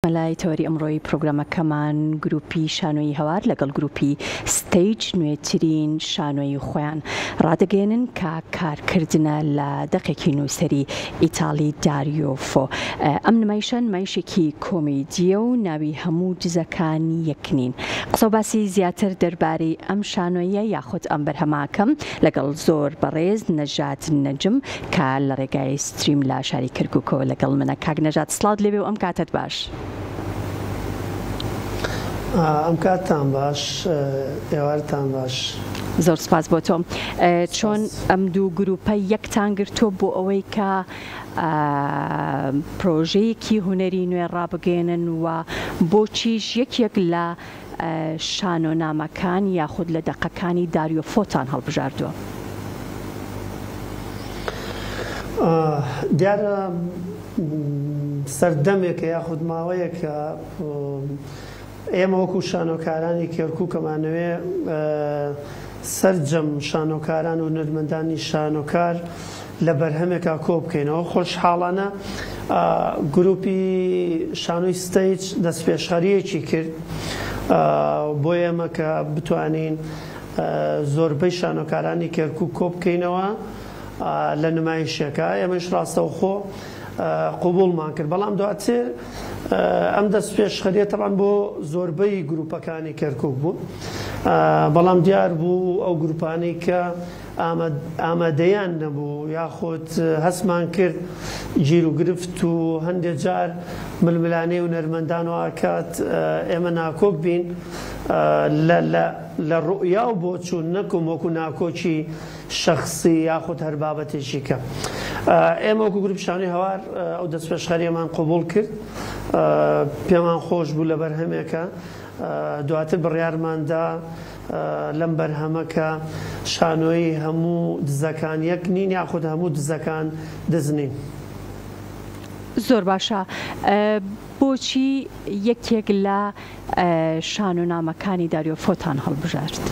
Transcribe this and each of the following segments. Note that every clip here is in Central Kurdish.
مەلای تەوەری ئەمڕۆی پڕۆگرامەکەمان گروپی شانۆیی هەوار لەگەڵ گروپی ستەیج نوێترین شانۆیی خۆیان ڕادەگەیەنن کە کارکردنە لە دەقێکی نووسەری ئیتاڵی داریۆ فۆ. ئەم نمایشە نمایشێکی کۆمیدییە و ناوی هەموو دزەکان یەک نین. قسەو باسی زیاتر دەربارەی ئەم شانۆییە یاخود ئەم بەرهەمە ئەکەم لەگەڵ زۆر بەڕێز نەژاد نەجم کە لە ڕێگای ستریم لە شاری کەرکوکەوە لەگەڵ منە کاک نەژاد سڵاوت لێبێ و ئەم کاتەت باش. ئەم کاتتان باش ئێوارتان باش. زۆر سوپاس بۆ تۆ. چۆن ئەم دوو گروپە یەکتان گرتووە بۆ ئەوەی کە پرۆژەیەکی هونەری نوێ ڕابگەیەنن و بۆچیش یەکێک لە شانۆنامەکان یاخود لە دەقەکانی داریۆ فۆتان هەڵبژاردووە؟ دیارە سەردەمێکە یاخود ماوەیەکە ئێمە وەکو شانۆکارانی کێرکوک ئەمانەوێ سەرجەم شانۆکاران و هونەرمەندانی شانۆکار لە بەرهەمێکا کۆ بکەینەوە. خۆشحاڵانە گرووپی شانۆی ستەیج دەستپێشخەرییەکی کرد بۆ ئێمە کە بتوانین زۆربەی شانۆکارانی کەرکووک کۆ بکەینەوە لە نمایشێکا. ئێمەش ڕاستەوخۆ قبووڵمان کرد. بەڵام دواتر ئەم دەستپێشخەرییە تەبعەن بۆ زۆربەی گرووپەکانی کەرکووک بوو. بەڵام دیار بوو ئەو گرووپانەی کە ئامادەیان نەبوو یاخود هەستمان کرد گیر و گرفت و هەندێ جار ململانێ و نەرمەندان وائەکات ئێمە ناکۆک بین لە ڕوئیا و بۆچوون نەکم وەکو ناکۆکی شەخسی یاخود هەر بابەتێکی کە ئێمە وەکو گروپی شانۆی هەوار ئەو دەستپێشخەریەمان قبوڵ کرد پێمان خۆش بوو لە بەرهەمێکە دواتر بڕیارماندا لەم بەرهەمە کە شانۆیی هەموو دزەکان یەک نین یاخود هەموو دزەکان دز نین. زۆر باشە بۆچی یەکێک لە شانۆنامەکانی داریۆ فۆتان هەڵبژارد؟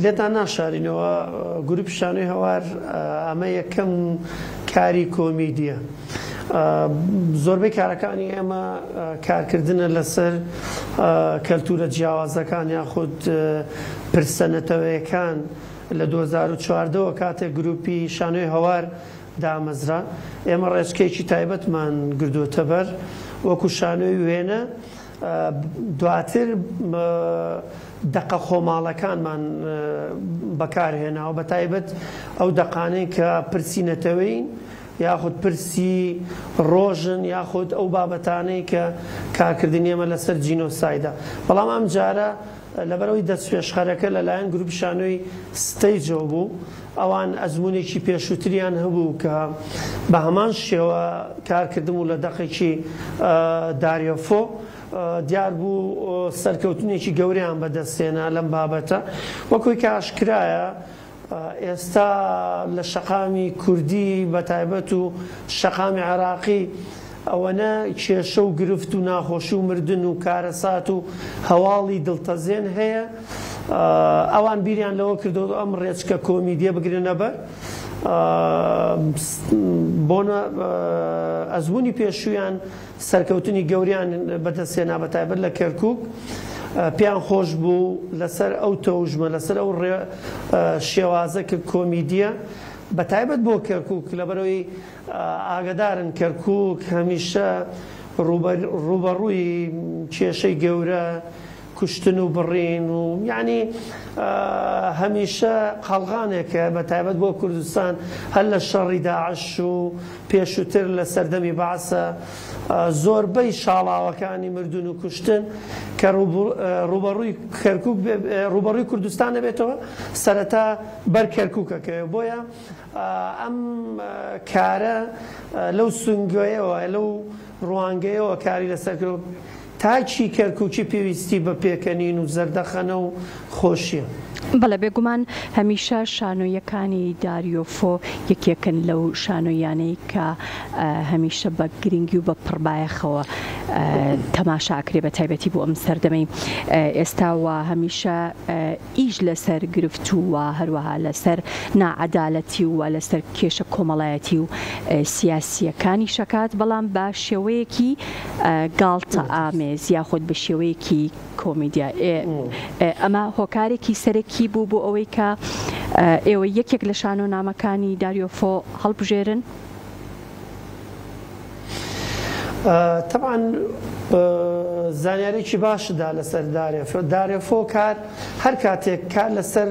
لێتان ناشارینەوە گروپی شانۆی هەوار ئەمە یەکەم کاری کۆمیدیە. زۆربەی کارەکانی ئێمە کارکردنە لەسەر کەلتوورە جیاوازەکان یاخود پرسە نەتەوەیەکان، لە دوو هەزار و چواردە وە کاتێک گرووپی شانۆی هەوار دامەزرا ئێمە ڕێچکەیەکی تایبەتمان گردووەتە بەر وەکو شانۆی وێنە، دواتر دەقە خۆماڵەکانمان بەکارهێناوە بەتایبەت ئەو دەقانەی کە پرسی نەتەوەیین یاخود پرسی ڕۆژن یاخود ئەو بابەتانەی کە کارکردنی ئێمە لەسەر جینۆسایدە بەڵام ئەمجارە لەبەرئەوەی دەستپێشخەرەکە لەلایەن گروپی شانۆی ستەیجەوە بوو ئەوان ئەزمونێکی پێشووتریان هەبوو کە بە هەمان شێوە کارکردم و لە دەقێکی داریۆفۆ دیار بوو سەرکەوتنێکی گەورەیان بەدەستێنا لەم بابەتە وەکۆی کە ئاشکرایە ئێستا لە شەقامی کوردی بە تایبەت و شەقامی عێراقی ئەوەنە کێشە و گرفت و ناخۆشی و مردن و کارەسات و هەواڵی دڵتەزێن هەیە ئەوان بیریان لەوە کردووە ئەم ڕێچکە کۆمیدیە بگرنە بەر بۆنە ئەزمونی پێشوویان سەرکەوتنی گەوریان بەدەستهێنا بەتایبەت لە کەرکوک پێیان خۆش بوو لەسەر ئەو تەوژمە لەسەر ئەو شێوازە کە کۆمیدیە بەتایبەت بۆ کەرکوک لەبەرەوەی ئاگدارن کەرکوک هەمیشە ڕووبەڕووی کێشەی گەورە کوشتن و بڕین و یانی هەمیشە قەڵغانێکە بە تایبەت بۆ کوردستان هەر لە شەڕی داعش و پێشووتر لە سەردەمی بەعسە زۆربەی شاڵاوەکانی مردن و کوشتن کە ڕوبەڕووی کەرکک ڕوبەڕووی کوردستان دەبێتەوە سەرەتا بەر کەرککەکە بۆیە ئەم کارە لەو سنگۆیەوە لەو ڕوانگەیەوە کاری لەسەر تاکی کەرکوکی پێویستی بە پێکەنین و زەردەخەنە و خۆشیە. بەڵێ بێگومان هەمیشە شانۆییەکانی داریۆفۆ یەکێکن لەو شانۆییانەی کە هەمیشە بە گرنگی و بە پڕ بایەخەوە تەماشا ئەکرێ بە تایبەتی بۆ ئەم سەردەمەی ئێستا وە هەمیشە ئیش لەسەر گرفت و هەروەها لەسەر ناعەدالەتی و لەسەر کێشە کۆمەڵایەتی و سیاسییەکانی شەکات بەڵام بە شێوەیەکی گاڵتە ئامێز یاخود بە شێوەیەکی کۆمیدیا ئەمە هۆکارێکی سەرەکی بوو بۆ ئەوەی کە ئێوە یەکێک لە شانۆنامەکانی داریۆفۆ هەڵبژێرن تەبعەن زانیاریکی باشدا لەسەر دارێفۆ دارێفۆ کار هەر کاتێک کار لەسەر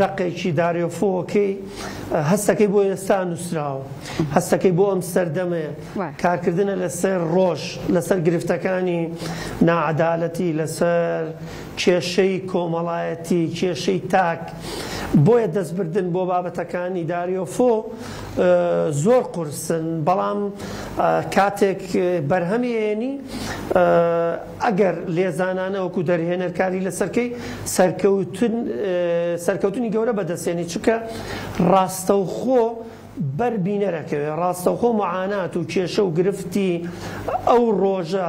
دەقێکی دارێفۆکەی هەستەکەی بۆ ئێستا نووسراوە هەستەکەی بۆ ئەم سەردەمێ کارکردنە لەسەر ڕۆژ لەسەر گرفتەکانی ناعادالەتی لەسەر کێشەی کۆمەڵایەتی کێشەی تاک بۆیە دەستبردن بۆ بابەتەکانی دارێفۆ زۆر قورسن بەڵام کاتێک بەرهەمی ئەیەنی ئەگەر لێزانانە وەکو دەرهێنەر کاری لەسەرکەی سەرکەوتنی گەورە بەدەستێنی چونکە ڕاستەوخۆ بەر بینەر ئەکەوێ ڕاستەوخۆ معانات و کێشە و گرفتی ئەو ڕۆژە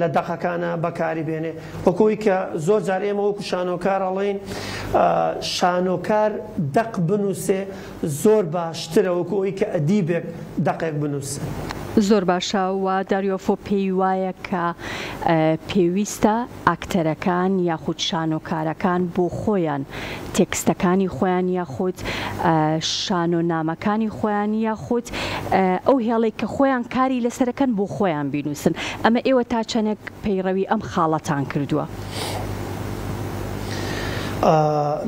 لە دەقەکانا بەکاری بێنێ وەکو ئەوەی کە زۆر جار ئێمە وەکو شانۆکار ئەڵێین شانۆکار دەق بنووسێ زۆر باشترە وەکو ئەوەی کە ئەدیبێک دەقێک بنووسێ. زۆر باشە وە داریۆفۆ پێی وایە کە پێویستە ئاکتەرەکان یاخود شانۆکارەکان بۆ خۆیان تێکستەکانی خۆیان یاخود شانۆ نامەکانی خۆیان یاخود ئەو هێڵێک کە خۆیان کاری لەسەرەکەن بۆ خۆیان بینوسن ئەمە ئێوە تا چەنێک پەیڕەوی ئەم خاڵەتان کردووە.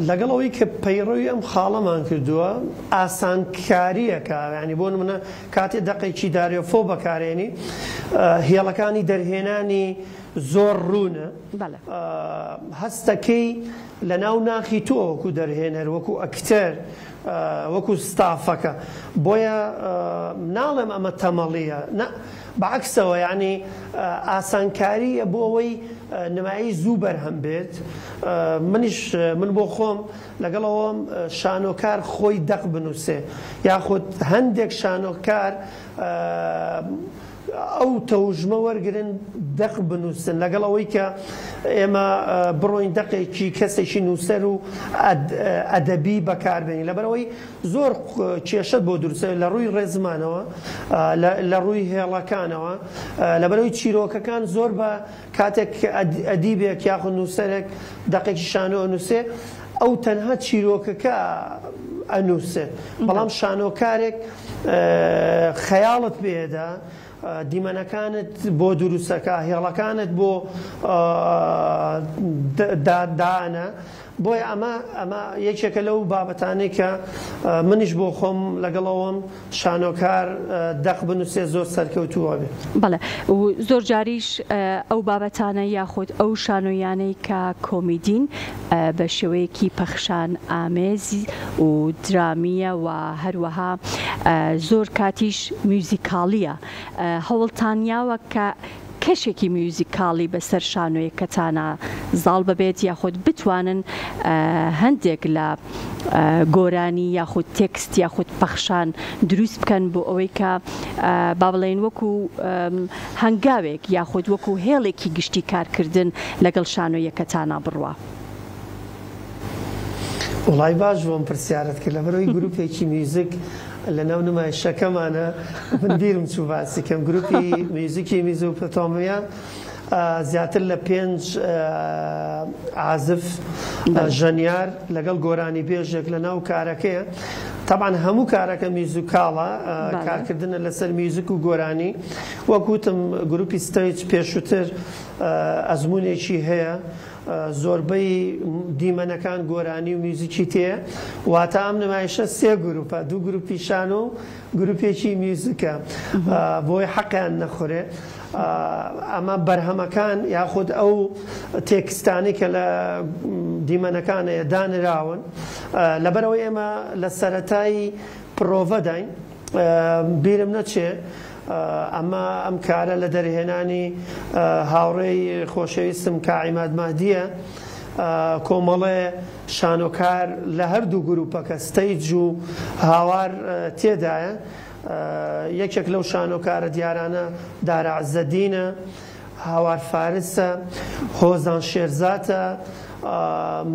لەگەڵ ئەوەی کە پەیڕەوی ئەم خاڵەمان کردووە ئاسانکاریەکە ینی بۆ منە کاتێ دەقێکی دارێفۆ بەکارێنی هێڵەکانی دەرهێنانی زۆر ڕوونە، بەڵێ. هەستەکەی لە ناو ناخی تۆ وەکو دەرهێنەر وەکو ئەکتەر وەکو ستافەکە بۆیە ناڵێم ئەمە تەمەڵیە نا بە عەکسەوە یەعنی ئاسانکاریە بۆ ئەوەی نمایش زوو بەرهەم بێت منیش من بۆ خۆم لەگەڵ ئەوەم شانۆکار خۆی دەق بنوسێ یاخود هەندێک شانۆکار ئەو تەوژمە وەرگرن دەق بنووسن لەگەڵ ئەوەی کە ئێمە بڕۆین دەقێکی کەسێکی نووسەر و ئەدەبی بەکاربێنین لەبەرەوەی زۆر کێشەت بۆ دروستە لە ڕووی ڕێزمانەوە لە ڕووی هێڵەکانەوە لەبەرەوەی چیرۆکەکان زۆر بە کاتێک ئەدیبێک یاخود نووسەرێک دەقێکی شانۆ ئەنووسێ ئەو تەنها چیرۆکەکە ئەنووسێ بەڵام شانۆکارێک خەیاڵت پێیەدا دیمەنەکانت بۆ دروستەکا هێڵەکانت بۆ دانە بۆیە ئەمە ئەمە یەکێکە لەو بابەتانەی کە منیش بۆ خۆم لەگەڵەوەم شانۆکار دەق بنووسێ زۆر سەرکەوتووە بێت بڵێ زۆر جاریش ئەو بابەتانە یاخود ئەو شانۆیانەی کە کۆمیدین بە شێوەیەکی پەخشان ئامێز و درامییە و هەروەها زۆر کاتیش میوزیکاڵییە هەوڵتان یاوە کە کەشێکی میوزیکاڵی بەسەر شانۆیەکەتانا زاڵ ببێت یاخود بتوانن هەندێک لە گۆرانی یاخود تێکست یاخود پەخشان دروست بکەن بۆ ئەوەی کە با بڵێن وەکو هەنگاوێک یاخود وەکو هێڵێکی گشتی کارکردن لەگەڵ شانۆییەکە تانا بڕوا. وەڵای باش بوو ئەم پرسیارەت کرد لەبەرەوەی گروپێکی میوزک لەناو نمایشەکەمانە من بیرم چوو باسی کەم گروپی میوزکی میزۆپۆتامیا زیاتر لە پێنج عازف ژەنیار لەگەڵ گۆرانی بێژێک لەناو کارەکەیە تەبعەن هەموو کارەکە میوزیکاڵە کارکردنە لەسەر میوزک و گۆرانی وەک وتم گروپی ستەیج پێشوتر ئەزمونێکی هەیە زۆربەی دیمەنەکان گۆرانی و میوزیکی تێیە واتە ئەم نمایشە سێ گروپە دوو گروپی شانۆ و گروپێکی میوزیکە بۆی حەقیان نەخورێ ئەمە بەرهەمەکان یاخود ئەو تێکستانی کە لە دیمەنەکانەیە دانراون لەبەرئەوەی ئێمە لە سەرەتای پرۆڤەداین بیرم نەچێ ئەمە ئەم کارە لە دەرهێنانی هاوڕێی خۆشەویستم کا عیماد مەهدیە کۆمەڵێ شانۆکار لە هەردوو گروپەکە ستەیج و هاوار تێدایە یەکێک لەو شانۆکارە دیارانە دارا عزەدینە هاوار فارسە هۆزان شێرزاتە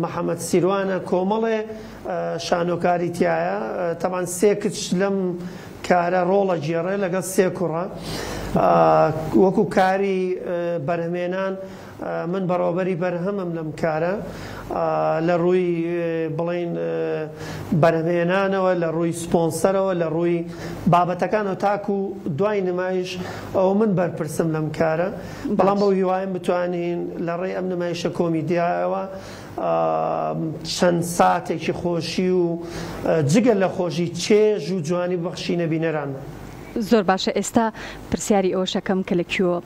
محەمەد سیروانە کۆمەڵێ شانۆکاری تیایە تەبان سێ کچ لەم کارە ڕۆڵ ئەگێڕێ لەگەڵ سێ کوڕە وەکو کاری بەرهەمێنان من بەڕێوەبەری بەرهەمم لەم کارە لە ڕووی بڵێن بەرهەمێنانەوە لە ڕووی سپۆنسەرەوە لە ڕووی بابەتەکانەوە تاکو دوای نمایش ئەوە من بەرپرسم لەم کارە بەڵام بەو هیوایەم بتوانین لە ڕێی ئەم نمایشە کۆمیدیایەوە چەند ساتێکی خۆشی و جگە لە خۆشی چێژ و جوانی ببەخشینە بینەران. زۆر باشە ئێستا پرسیاری ئەوەشەکەم کە لە کوێ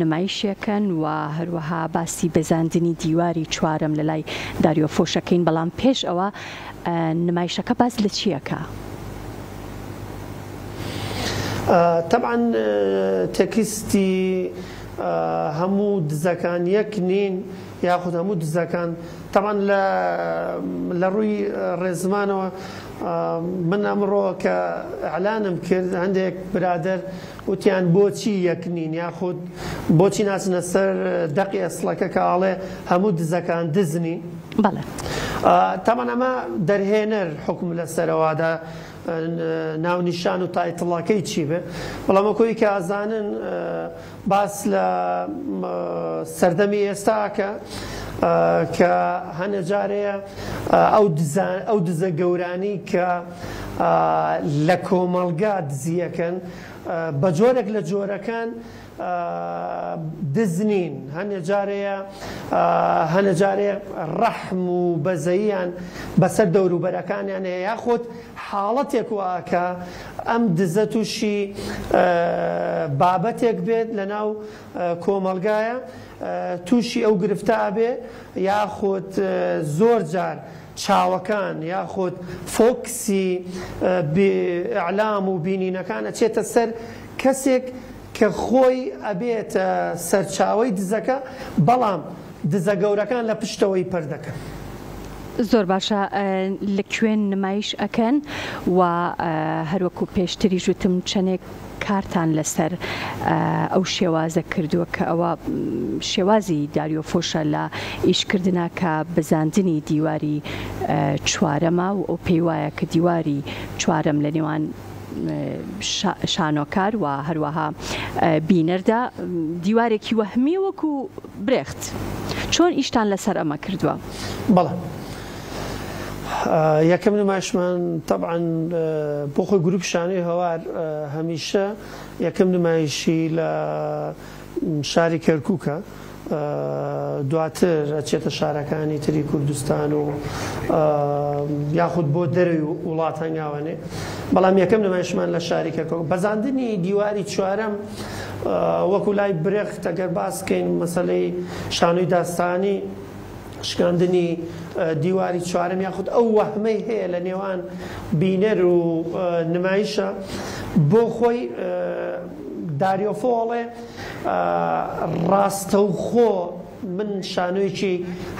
نمایشیەکەن و هەروەها باسی بەزاندنی دیواری چوارەم لە لای داریۆ فۆشەکەین بەڵام پێش ئەوە نمایشەکە باس لە چیەکە؟ تەبعەن تێکستی هەموو دزەکان یەک نین. یاخود هەموو دزەکان تەبعەن لە لە ڕووی ڕێزمانەوە من ئەمڕۆ کە ئەلانم کرد هەندێک برادەر وتیان بۆچی یەک نین یاخود بۆچی ناچنە سەر دەقی ئەسڵەکە کە ئاڵێ هەموو دزەکان دزنین بەڵێ تەمان ئەمە دەرهێنەر حکم لە سەرەوادا ناونیشان و تایتڵەکەی چی بێ بەڵام کۆی کە ئازانن باس لە سەردەمی ئێستا ئەکا کە هەنێ جار هەیە ئەو دزا ئەو دزە گەورانی کە لە کۆمەڵگا دزی ئەکەن بە جۆرێک لە جۆرەکان دز نین هەنێ جار هەیە هەنێ جار هەیە ڕەحم و بەزەییان بەسەر دەوروبەرەکانیان هەیە یاخود حاڵەتێک واکە ئەم دزە تووشی بابەتێک بێت لەناو کۆمەڵگایە تووشی ئەو گرفتە ئەبێ یاخود زۆر جار چاوەکان یاخود فۆکسی ئیعلام و بینینەکان ئەچێتە سەر کەسێک کە خۆی ئەبێتە سەرچاوەی دزەکە بەڵام دزە گەورەکان لە پشتەوەی پەر دەکەن. زۆر باشە لە کوێن نمایش ئەکەن وە هەروەکو پێشتریش وتم چەنێک کارتان لەسەر ئەو شێوازە کردووە کە ئەوە شێوازی داریۆ فۆشە لە ئیش کردنا کە بزاندنی دیواری چوارەمە و ئەو پێی وایە کە دیواری چوارەم لە نێوان شانۆکار و هەروەها بینەردا دیوارێکی وەهمی وەکو برێخت چۆن ئیشتان لەسەر ئەمە کردووە؟ بەڵێ یەکەم نمایشمان طبعا بۆ خۆی گروپ شانۆی هەوار هەمیشە یەکەم نمایشی لە شاری کەرکوکە دواتر ئەچێتە شارەکانی تری کوردستان و یاخود بۆ دەرەوی وڵات هەنگاوەنێ بەڵام یەکەم نمایشمان لە شاری کەرکوک بەزاندنی دیواری چوارەم وەکو لای برێخ تەگەر باسکەین مەسلەی شانۆی داستانی شکاندنی دیواری چوارەم یاخود ئەو وەهمەی هەیە لە نێوان بینەر و نمایشە بۆ خۆی داریۆفۆ ئەڵێ ڕاستەوخۆ من شانۆیەکی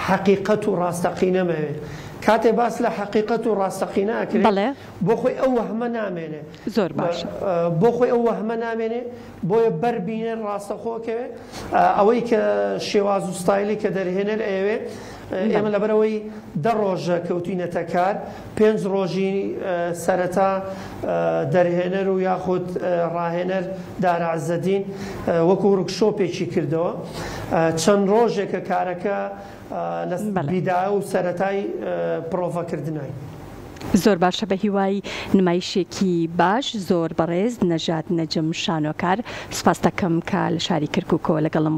حەقیقەت و ڕاستەقینەمەوێ کاتێ باس لە حەقیقەت و ڕاستەقینە ئەکرێ بۆ خۆی ئەو وەهمە نامێنێ زۆر باشە. بۆ خۆی ئەو وەهمە نامێنێ بۆیە بەر بینەر ڕاستەخۆ کەوێ ئەوەی کە شێواز و ستایلی کە دەرهێنەر ئەیەوێ ئێمە لەبەر ئەوەی دە ڕۆژە کەوتوینەتە کار پێنج ڕۆژی سەرەتا دەرهێنەر و یاخود ڕاهێنەر دارە عزەدین وەکو ورکشۆپێکی کردەوە چەند ڕۆژێکە کارەکە لە بیدایە و سەرەتای پرۆڤە کردنای. زۆر باشە بەهیوای نمایشێکی باش زۆر بەڕێز نەژاد نەجم شانۆکار سوپاستەکەم کە لە شاری کەرکوکەوە لەگەڵم.